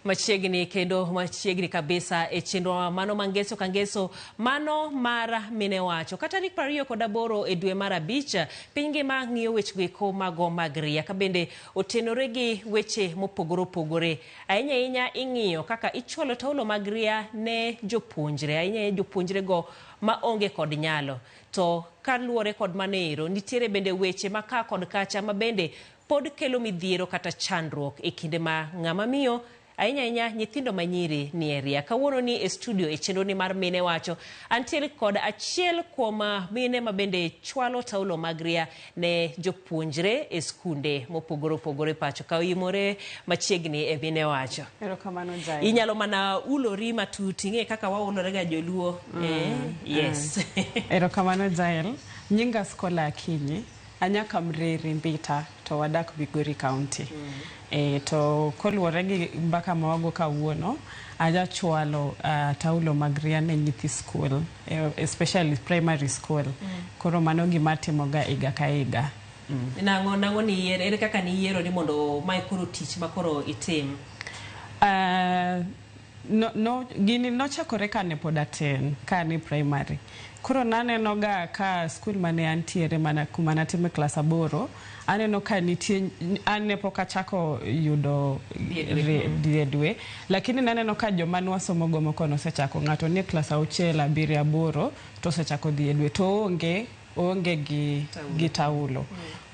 machiegni kendo machiegni kabisa e chenrowa mano ma ngeso ka ngeso mano mar mine wacho ka tarik prariyo kod aboro e dwe mar abich piny ngima ng'iyo wechego eko mago mag ria ka bende otenore gi weche mopogore opogore Ahinya ahinya ing'iyo kaka ichwalo taulo mag ria ne jopuonjre, ahinya ahinya jopuonjrego ma onge kod nyalo. To kaluwore kod mano ero, nitiere bende weche ma ka kod kacha ma bende pod kelo midhiero kata chandruok e kinde ma ng'ama miyo ahinya ahinya nyithindo ma nyiri nie ria. Kawuono ni e studio e chenro ni mar Mine Wacho, antiere kod achiel kuom mine ma bende chwalo taulo mag ria ne jopuonjre e skunde mopogore opogore pacho ka oyimore machiegni e mine wacho. Erokamano Jael. Inyalo mana ulori matut ing'e kaka waulore ga joluo. Mm. Eh, yes. Mm. Erokamano Jael. Nyinga Skola Akinyi. Anya Kamreri Mbita to wadak Migori County. Mm. E, to koluwore gi mbaka ma wago kawuono, aja chwalo uh, taulo mag riane nyithi skul. eh, especially primary school koro mano gima atimoga higa ka higa Nang'o nang'o ni yiero ere kaka ni yiero ni mondo mae koro tich ma koro itim. Ah, no, no, gini nochakore kane pod atin kane primary koro nanenoga ka skul mane antiere mana kuma natime klas aboro Aneno ka nitie an ne pok achako yudo die dwe lakini naneno ka joma nwasomo go moko nosechako ng'ato nie klas auchiel abiriyo aboro to osechako dhi e dwe to onge onge gi, gi taulo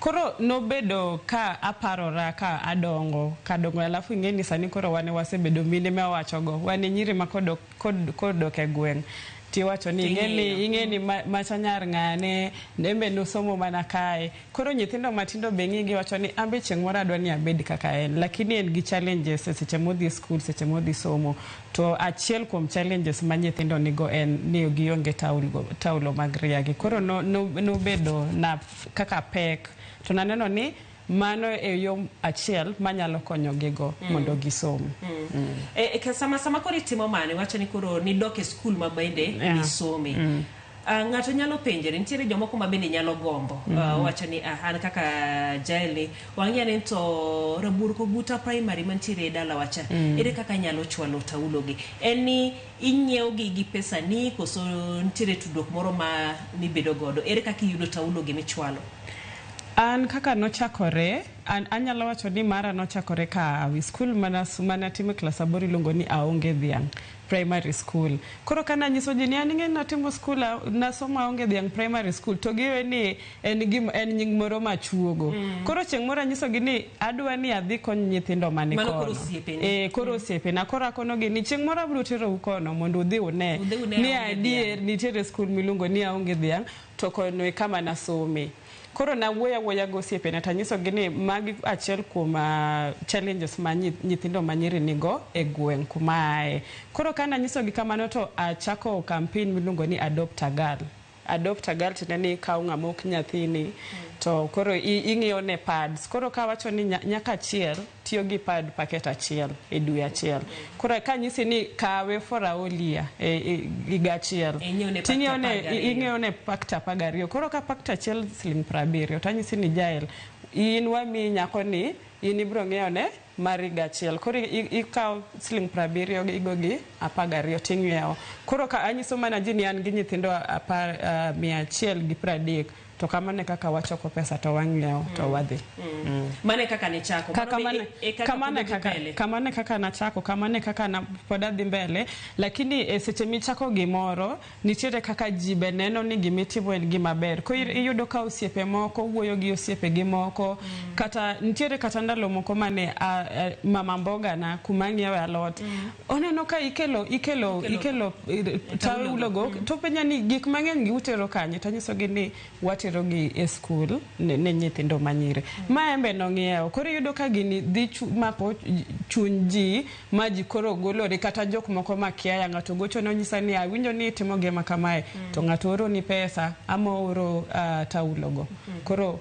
koro nobedo ka aparora ka adongo kadongo alafu ing'e ni sani koro wane wasebedo mine ma wawacho go wane nyiri ma kodok kodok e gweng' tiwacho ni ing'eni ing'eni ma- macha nyar ng'ane embe nosomo mana kae koro nyithindo matindo be ng'igi wacho ni ambe chieng' moro adwa ni abed kaka en lakini en gi challenges e seche modhi e skul seche modhi somo to achiel kuom challenges ma nyithindo nigo en ni gionge taulo, taulo mag riagi koro no- no- nobedo na kaka pek to naneno ni Mano e yo achiel manyalo konyogigo mm. mondo gisom. Mm. Mm. E, e, sama, sama koro itimo mano, iwacho ni koro nidok e skul ma bende yeah. nisome. Mm. Uh, ng'ato nyalo penjore nitiere jomoko ma bende nyalo gombo mm -hmm. uh, mm-hmm. wacho ni uh, an kaka jaelni wang'eya ni to rabur koguta primary mantiere e dala wacha mm. ere kaka nyalo chwalo taulogi en ni inyiewogi gi pesa ni koso nitiere tudruok moro ma mibedo godo ere kaka iyudo taulogi michwalo An kaka nochakore, an anyalo wacho ni mara nochakore ka ahawi. Skul mane atime klas aboro iluongo ni Aonge Dhiang' Primary School. Koro kane anyiso ji ni an ing'eni natimo skul nasomo Aonge Dhiang' Primary School to giwe ni en nying moro machuogo. Mm. Koro chieng' moro anyisogi ni adwa ni adhi kony nyithindo mani kono. Mano koro osiepeni. E, eh, koro mm. osiepena. Koro akonogi ni chieng' moro abiro terou kono mondo udhi une. Udhi une ni adier nitiere skul miluongo ni Aonge Dhiang' To kono e kama nasome. Koro nawuoyo awuoya gosiepena tanyisogi ni magi achiel kuom challenges ma nyithindo manyiri nigo e gweng' kuma aaye. Koro ka nanyisogi kamano to achako campaign miluongo ni Adopt a Girl. Adopt a Girl tiende ni ikawo ng'ama ok nyathini to koro ing'iewo ne pads. Koro kawacho ni nyaka achiel. tiyo gi pad packet achiel e dwe achiel koro ka nyisi ni kawe for a whole year e, e, higa achiel E, ing'iew ne pakta Ting'iew ne- apar gariyo. ing'iew ne pakta apar gariyo koro ka pakta achiel siling piero abiriyo to anyisi ni jael in wamiyi nyako ni in ibiro ng'iewo ne mar higa achiel koro i- ikawo siling piero abiriyo gi- igo gi apar gariyo to ing'iewo koro ka anyiso mana ji ni an gi nyithindo apar ah, mia achiel gi piero adek To kamano e kaka wachoko pesa to wang'iewo to mm. wadhi. Mm. Mano e kaka ne chako. Ka, kamano, e, e kamano, kaka, kamano e kaka nachako, kamano e kaka na, pod adhi mbele. Lakini e seche michako gimoro, nitiere kaka ji be neno ni gimitimo en gima ber. Ko mm. iyudo ka osiepe moko, wuoyo gi osiepe gi moko, mm. kata nitiere kata ndalo moko mane a, a, mama mboga na kuma ng'iewe alot. Mm. Oneno ka ikelo ikelo ikelo taulo go mm. to penja ni gik mang'eny gi utero kanye to nyiso gi ni watero gi e skul ne, ne nyithindo manyire mm. ma embe nong'iewo koro yudo ka gini dhi chu, mako chuny ji ma ji koro golore kata jok moko ma kia ya ng'ato gocho no nyisa ni awinjo ni itimo gima kamae mm. to ng'ato oro ni pesa ama oro uh, taulo go mm. koro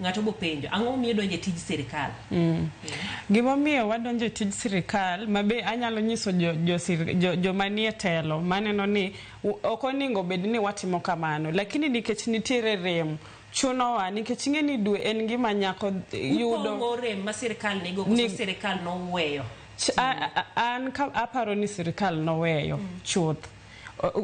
Ng'ato bopenjo, ang'o momiyo idonjo e tij sirkal? Mm. Gimomiyo wadonjo e tij sirkal, ma be anyalo nyiso jo, jo, jo, jo manie telo maneno ni ok oningo bed ni watimo kamano, lakini nikech nitiere rem chunowa nikech ing'e ni dwe en ngima nyako yudo upong'o rem ma sirkal nigo koso sirkal noweyo an ka aparo ni sirkal noweyo mm. chuth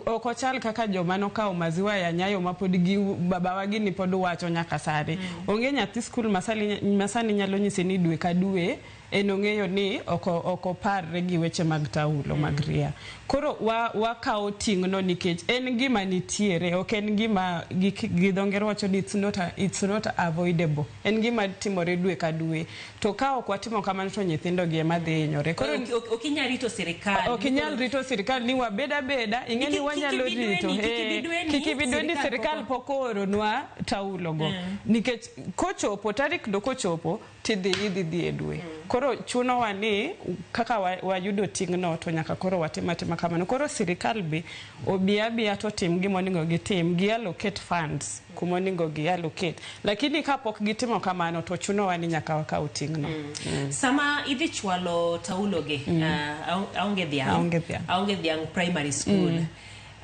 ok ochal kaka joma nokawo maziwa ya nyayo ma pod gi babawa gini pod wacho nyaka sani mm. onge nyathi skul masani nyalo nyise ni dwe ka dwe en ong'eyo ni ok oparre gi weche mag taulo mm. mag ria koro wakawo wa ting'no nikech en gima nitiere ok en gima gi dho ngere wacho ni it's not, it's not avoidable En gima timore dwe ka dwe. To ka ok watimo kamano to nyithindo gi ema dhi hinyore. Koro Ok- ok- ok inyal rito sirikal ok inyal rito sirikal ni wabed abeda ing'e ni Kik- wanyalo kik ibi rito dweni, kik ibi Eh, dweni, kik ibi dweni sirikal sirikal pok- pok ooronwa taulogo nikech kochopo tarik do kochopo tidhi idhi dhi e dwe koro chunowa ni kaka wa- wayudo ting'no to nyaka koro watim atima kamano koro sirikal be Obi abiya to otim gima oningo gitim, gi allocate funds kuma oningo gi allocate. Lakini ka pok gitimo kamano to chunowa ni nyaka wakaw ting'no. Mm. Sama idhi chwalo taulo gi, mm. uh, aonge dhiang', aonge dhiang', aonge dhiang' primary school. Mm.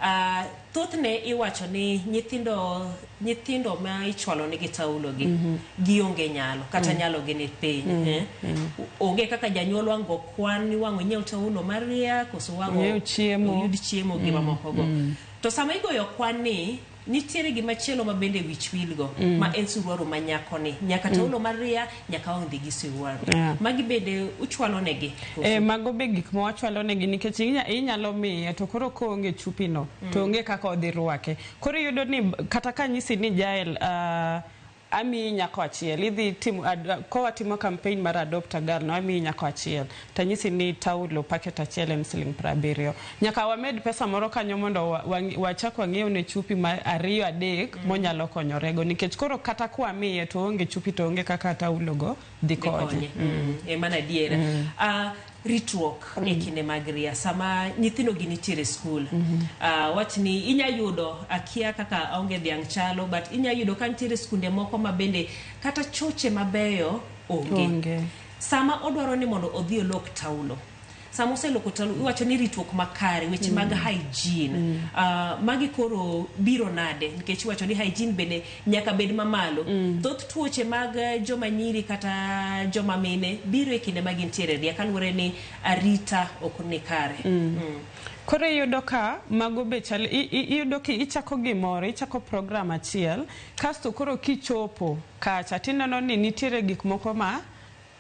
Uh, thothne iwacho ni nyithindo Nyithindo ma ichwalo ne gi taulo gi gionge nyalo kata nyalo gi ni piny. eh. Onge kaka janyuol wang' go kwan ni wang' onyiew taulo maria koso wang' Onyiew chiemo. oyud chiemo gi mamoko go. To sama igoyo kwan ni nitiere gima chielo ma bende wich wil go ma en suruaru ma nyako ni nyaka taulo maria nyaka wang' dhi gi suruaru. Yeah. Magi bende uchwalo ne gi. koso? E, mago be gik ma wachwalo negi nikech inya- inyalo miye to koro koonge chupino to onge kaka odhi rwake Koro iyudo ni kata ka anyisi ni Jael amiyi nyako achiel, idhi timo ka watimo campaign mar adopt a girl no amiyi nyako achiel to anyisi ni taulo packet achiel en siling piero abiriyo. Nyaka wamed pesa moro kanyo mondo wachak wang'iew ne chupi ma ariyo adek monyalo konyorego nikech koro kata kwamiye to oonge chupi to oonge kaka taulo go Dhi konye. Mm. E mana adiera. Ah, ritruok e kinde mag ria sama nyithindo gi nitiere skul Ah, wach ni inya yudo akia kaka aonge dhiang' chalo but inya yudo ka nitiere skunde moko ma bende kata choche mabeyo onge Onge. sama odwaro ni mondo odhi olok taulo sama oseloko tol iwacho ni ritruok makare weche mag mm. hygiene mm. Uh, magi koro biro nade nikech iwacho ni hygiene bende nyaka bed mamalo mm. thoth tuoche mag eh, joma nyiri kata joma mine biro e kinde ma gintiere ria kaluwore ni arita ok ni kare mm. Mm. koro iyudo ka mago be chal iyudo ki ichako gimoro ichako program achiel kasto koro kichopo kacha tineno ni nitiere gik moko ma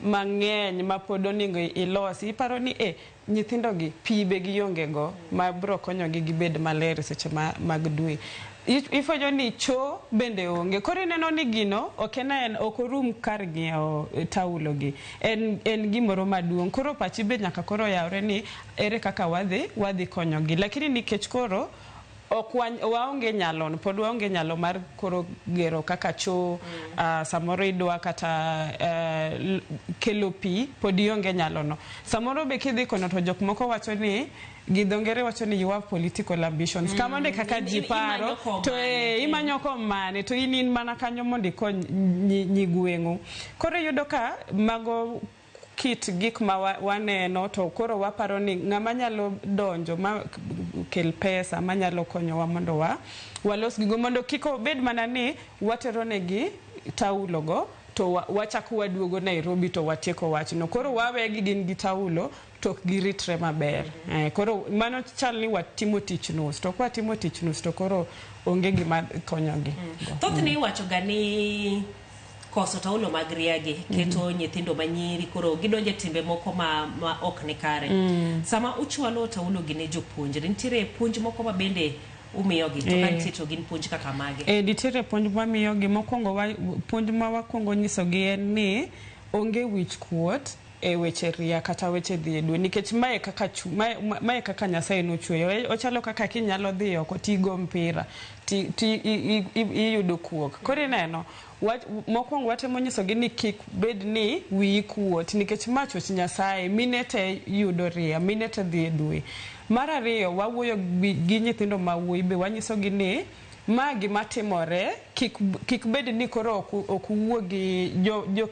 mang'eny ma pod oningo ilosi iparo ni eh nyithindo gi pi be gionge go ma bro konyo gi gibed maler seche ma mag dwe. Ifwenyo ni cho bende onge koro ineno ni gino ok en aena ok orum kar ng'iewo taulo gi en en gimoro maduong' koro pachi be nyaka koro yawre ni ere kaka wadhi wadhi konyo gi lakini nikech koro Ok wa, waonge nyalon pod waonge nyalo mar koro gero kaka choo mm. uh, samoro idwa kata uh, kelo pi pod ionge nyalono samoro be kidhi kono to jok moko wacho ni gi dho ngere wacho ni you have political ambitions mm. kamano e kaka ji paro to e, imanyo komane to in in mana kanyo mondo ikony nyigweng'u koro iyudo ka mago kit gik ma waneno to koro waparo ni ng'ama nyalo donjo ma kel pesa manyalo konyowa mondo wa walos gigo mondo kik obed mana ni watero negi taulo go to wachako waduogo Nairobi to watieko wachno. Koro wawegi gin gi taulo to ok giritre maber. Eh, koro mano chal ni watimo tich nus to kwatimo tich nus to koro onge gima konyogi. Mm. Thothne iwachoga ni koso taulo mag riagi keto mm -hmm. nyithindo manyiri koro gidonje timbe moko ma, ma ok ni kare mm. sama uchwalo taulo gi ne jopuonjre nitiere puonj moko ma bende umiyogi to ka eh. nitie to gin puonj kaka mage e nitiere puonj ma miyogi mokwongo puonj ma wakwongo nyisogi en ni onge wich kuot e weche ria kata weche dhi e dwe nikech mae kaka chu, mae, mae kaka Nyasaye nochweyo. E, Ochalo kaka kinyalo dhi oko tigo mpira ti, ti, i, i, i- iyudo kuok. Koro ineno, wa, mokwongo watemo nyisogi ni kik bed ni wiyi kuot nikech ma chwech Nyasaye, mine te yudo ria, mine te dhi e dwe. Mar ariyo wawuoyo gi, gi nyithindo ma wuoyi be wanyisogi ni Ma gima timore, kik kik bed ni koro ok ok uwuo gi jo, jo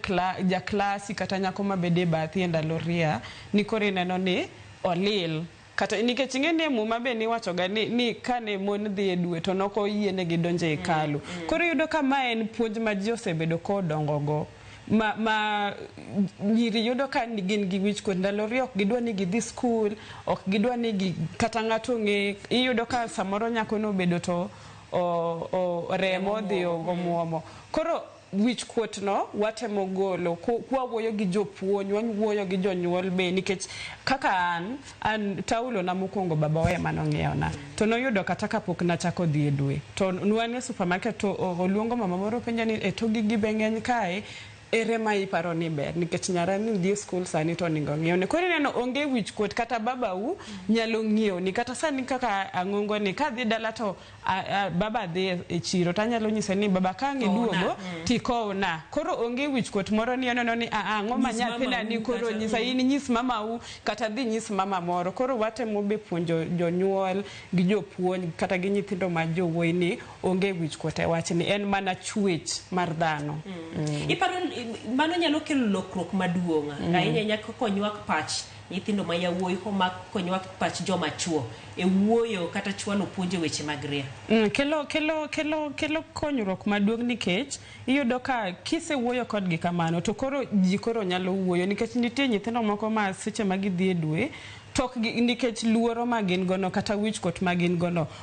ja klasi kata nyako ma bedo e bathi e ndalo ria ni koro ineno ni olil kata nikech ing'e ni e muma be niwacho ga ni, ni kane mon dhi e dwe to ne ok oyienegi donjo e hekalu. Koro iyudo ka ma en puonj ma ji osebedo kodongo go. ma, ma nyiri yudo ka ni- gin gi wich kuot ndalo riyo ok gidwa ni gidhi skul ok gidwa ni gi, kata ng'ato ong'e iyudo ka samoro nyako nobedo to o, o, remo odhi omuomo koro wich kuot no watemo golo ku- kwawuoyo gi jopuonj wawuoyo gi jonyuol be nikech kaka an An taulo na mokuongo babawa ema nong'iewo na to noyudo kata kapok nachako dhi e dwe to nwan e supermarket to oluongo mama moro openja ni e to gigi be ng'eny kae ere ma iparo ni ber nikech nyarani dhi e skul sani to oningo ng'iew ni koro ineno onge wich kuot kata babau nyalo ng'iew ni kata sani kaka ang'ongo ni kadhi dala to A, a, baba dhi e- e chiro to anyalo nyise ni baba ka ang' iduogo tikowna koro onge wichkuot moro ni oneno ni "Ah, ah, ang'o ma Nyis nyathina mamau ni koro kata- nyisa in nyis mamau kata dhi nyis mama moro koro watemo be puonjo jonyuol gi jopuonj kata gi nyithindo ma jowuoyi ni onge wichkuot e wachni en mana chuech mar dhano iparo ni mano nyalo kelo lokruok maduong' ahinya nyaka konywak pach Nyithindo ma yawuoyi homak konyowa pach joma chuo e wuoyo kata chwalo puonj e weche mag ria. Mm, kelo, kelo, kelo, kelo konyruok maduong' nikech iyudo ka kisewuoyo kodgi kamano to koro ji koro nyalo wuoyo nikech nitie nyithindo moko ma seche ma gidhi e dwe tok nikech luoro ma gin gono kata wichkuot ma gin gono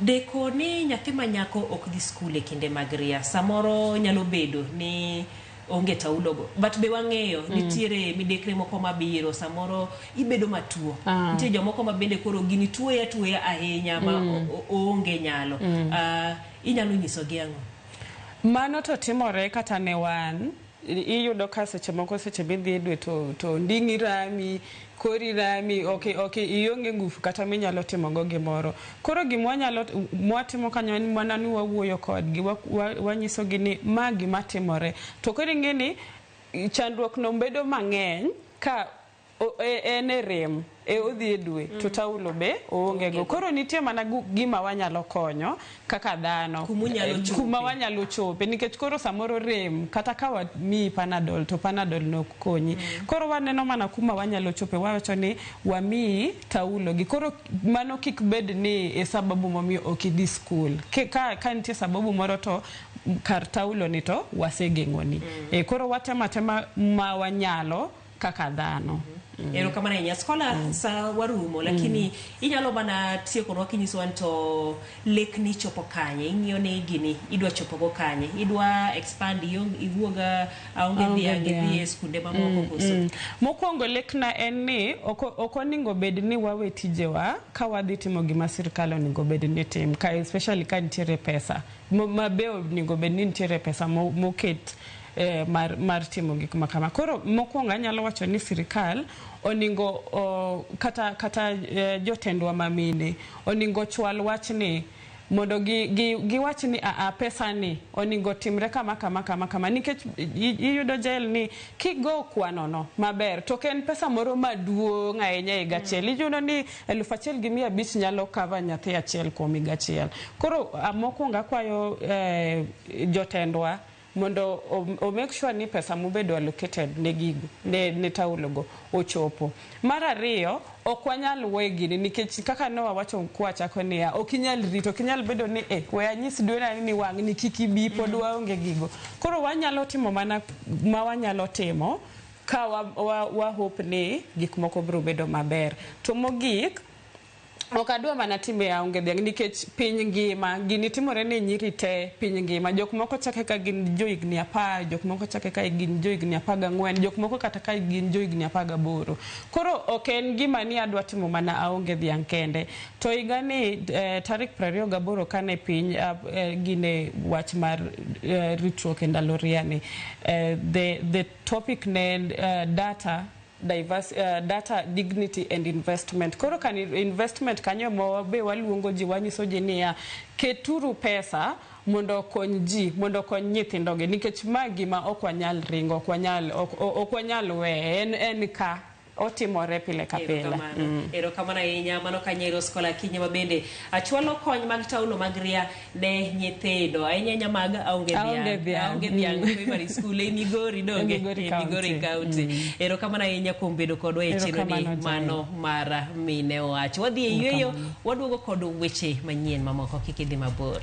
Deko ni nyathi ma nyako ok dhi skul e kinde mag ria samoro nyalo bedo ni onge taulogo but be wang'eyo mm. nitiere midekre moko mabiro samoro ibedo matuo ah. nitie jomoko ma bende koro gini tuoya tuoya ahinya ma mm. oonge nyalo mm. uh, inyalo nyisogi ang'o mano to timore kata ne wan iyudo ka seche moko seche midhi e dwe to, to nding'i rami kori rami ok ok ionge ngufu kata minyalo timo go gimoro koro gima wanyalo mwatimo kanyo en mana ni wawuoyo kodgi wa- wa- wanyiso gi ni ma gima timore to koro ing'e ni chandruok no bedo mang'eny ka O, e, en e rem e odhi e dwe to taulo be oonge go koro nitie mana gu- gima wanyalo konyo kaka dhano Kuma unyalo Eh, chope. kuma wanyalo chope nikech koro samoro rem kata ka wamiyi panadol to panadol nok konyi koro waneno mana kuma wanyalo chope wawacho ni wamiyi taulo gi koro mano kik bed ni e sababu momiyo ok idhi skul Ke- ka, ka nitie sababu moro to kar taulo ni to wasegeng'oni e koro watemo atema ma wanyalo kaka dhano. Mm. Erokamano ahinya Scholar, mm. sa warumo lakini mm. inyalo mana tiekonwa kinyisowa ni to lekni chopo kanye, ing'iyo ni gini idwa chopogo kanye, idwa expand iwuoga aonge dhiang' idhi e skunde mamoko mm, koso? Mm. Mokwongo lekna en ni ok oningo bed ni wawe tijewa ka wadhi timo gima sirkal oningo bed ni tim ka especially ka nitiere pesa mabe oningo bed ni nitiere pesa moket mo eh, mar, mar timo gik ma kama koro mokwongo anyalo wacho ni sirikal oningo o, kata, kata eh, jotendwa mamine oningo chwal wachni mondo gi, gi, giwach ni aa pesa ni oningo timre kama kama kama kama nikech i- iyudo jael ni kigo kwanono maber to ok en pesa moro maduong' ahinya e higa achiel iyudo ni eluf achiel gi mia abich nyalo kava nyathi achiel kuom higa achiel koro ah, mokwongo akwayo eh, jotendwa mondo o make sure ni pesa mobedo allocated ne gigo ne, ne taulo go ochopo. Mar ariyo, ok wanyal we gini nikech kaka ne wawacho kwachako niya, ok inyal rito, ok inyal bedo ni eh, we anyis dwena ni wang' ni kik ibi pod mm. waonge gigo. Koro wanyalo timo mana ma wanyalo timo ka wa, wa, wa hope ni gik moko biro bedo maber. To mogik Ok adwa mana timbe aonge dhiang' nikech piny ngima gini timore ne nyiri te piny ngima. Jok moko chake ka gin jo higni apar, jok moko chake ka gin jo higni apar gang'wen, jok moko kata ka gin jo higni apar gaboro. Koro ok en gima ni adwa timo mana aonge dhiang' kende. To higa ni eh, tarik prariyo gaboro kane piny ah, eh, gine wach mar eh, ritruok e ndalo riani. Eh, the, the topic ne en eh, data Diverse, uh, data dignity and investment koro kan investment kanyo mo be waluongo ji wanyiso ji niya keturu pesa mondo okony ji mondo okony nyithindogi nikech ma gima ok wanyal ringo ok wanyal ok- ok wanyal weye en, en ka otimore pile ka pile Erokamano. Erokamano ahinya mano ka Nyairos Kola Akinyi ma bende achwalo kony mag taulo mag ria ne nyithindo ahinya ahinya mag aonge dhiang' aonge dhiang' mm. primary school e Migori donge e Migori e County mm. erokamano ahinya kuom bedo kodwa e chenoni mano mar mine owacho wadhi e yueyo waduogo kod weche manyien mamoko kik idhi mabor